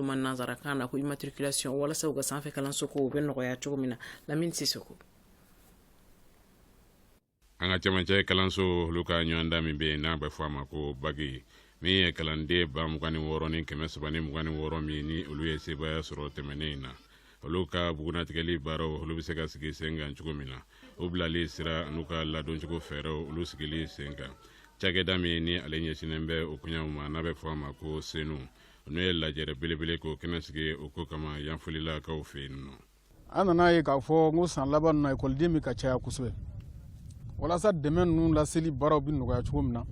ma nansarakan na ko immatriculation walasa u ka sanfɛ kalanso kow bɛ nɔgɔya cogo min na lamini tɛ se ko an ka cɛmancɛ kalansow olu ka ɲɔgɔndan min bɛ yen n'a bɛ fɔ a ma ko baki min ye kalanden ba mugan ni wɔɔrɔ ni kɛmɛ saba ni mugan ni wɔɔrɔ min ni olu ye sebaaya sɔrɔ tɛmɛnen in na olu ka bugunatigɛli baaraw olu bɛ se ka sigi sen kan cogo min na u bilali sira n'u ka ladoncogo fɛɛrɛw olu sigili sen kan cakɛda min ni ale ɲɛsinnen bɛ o koɲɛw ma n'a bɛ fɔ a ma ko senu n'o ye lajɛrɛ belebele k'o kɛnɛ sigi o ko kama yanfolilakaw fɛ yen nɔ an nana ye k'a fɔ ko san laban ninnu na ekɔliden bɛ ka caya kosɛbɛ walasa dɛmɛ ninnu laseli baaraw bɛ nɔgɔya cogo min na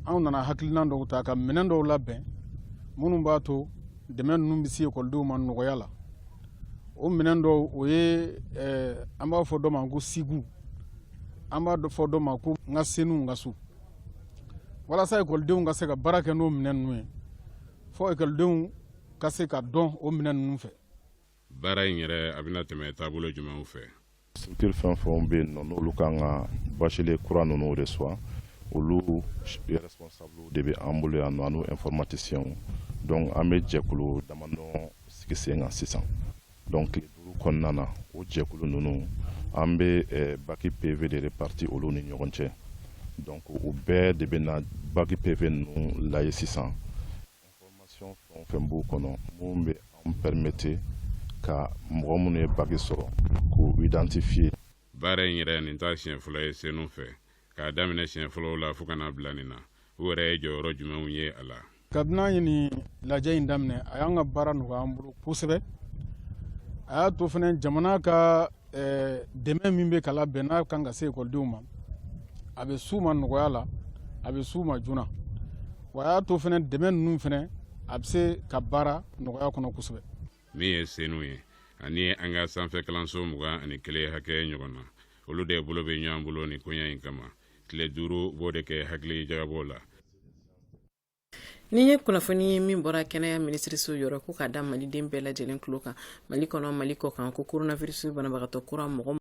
anw nana hakilina dɔw ta ka minɛn dɔw labɛn minnu b'a to dɛmɛ ninnu bɛ se ekɔlidenw ma nɔgɔya la o minɛn dɔw o ye eh, an b'a fɔ dɔ ma ko sigu an b'a fɔ dɔ ma ko n ka senu n ka so walasa ekɔlidenw ka se ka baara kɛ n'o minɛn ninnu ye fo ekɔlidenw ka se k'a dɔn o minɛn ninnu fɛ baara in yɛrɛ a bɛna tɛmɛ taabolo jumɛnw fɛ structure fɛn fɛnw bɛ yen nɔ n'olu ka kan ka bachelier kura ninnu recevoir olu responsablew de bɛ an bolo yan nɔ an'u informaticienw donc an bɛ jɛkulu damadɔ sigi sen kan sisan donc tile duuru kɔnɔna na o jɛkulu ninnu an bɛ baki peve de répartir olu ni ɲɔgɔn cɛ donc u bɛɛ de bɛna baki peve ninnu lajɛ sisan information fɛn o fɛn b'u kɔnɔ minnu bɛ an pɛremete ka mɔgɔ minnu ye baki sɔrɔ k'u identifier baara in yɛrɛ nin t'a siɲɛ fila ye senu fɛ k'a daminɛ siɲɛ fɔlɔw la fo ka n'a bila nin na aw yɛrɛ ye jɔyɔrɔ jumɛnw ye a la kabini an ye nin lajɛ in daminɛ a y'an ka baara nɔgɔya an bolo kosɛbɛ a y'a to fana jamana ka eh, dɛmɛ min bɛ ka labɛn n'a kan ka se ekɔlidenw ma a bɛ s'u ma nɔgɔya la a bɛ s'u ma joona wa a y'a to fana dɛmɛ ninnu fana a bɛ se ka baara nɔgɔya kɔnɔ kosɛbɛ min ye senu ye ani an ka sanfɛ kalanso mugan ani kelen hakɛ ɲɔgɔn na olu de bolo bɛ ɲɔgɔn bolo nin koɲa in kama tile duuru b'o de kɛ hakilijagabɔ la Nin ye kunnafoni ye min bɔra kɛnɛya minisiriso yɔrɔ ko ka da maliden bɛɛ lajɛlen tulo kan mali kɔnɔ mali kɔ kan ko coronavirus banabagatɔ kura mɔgɔ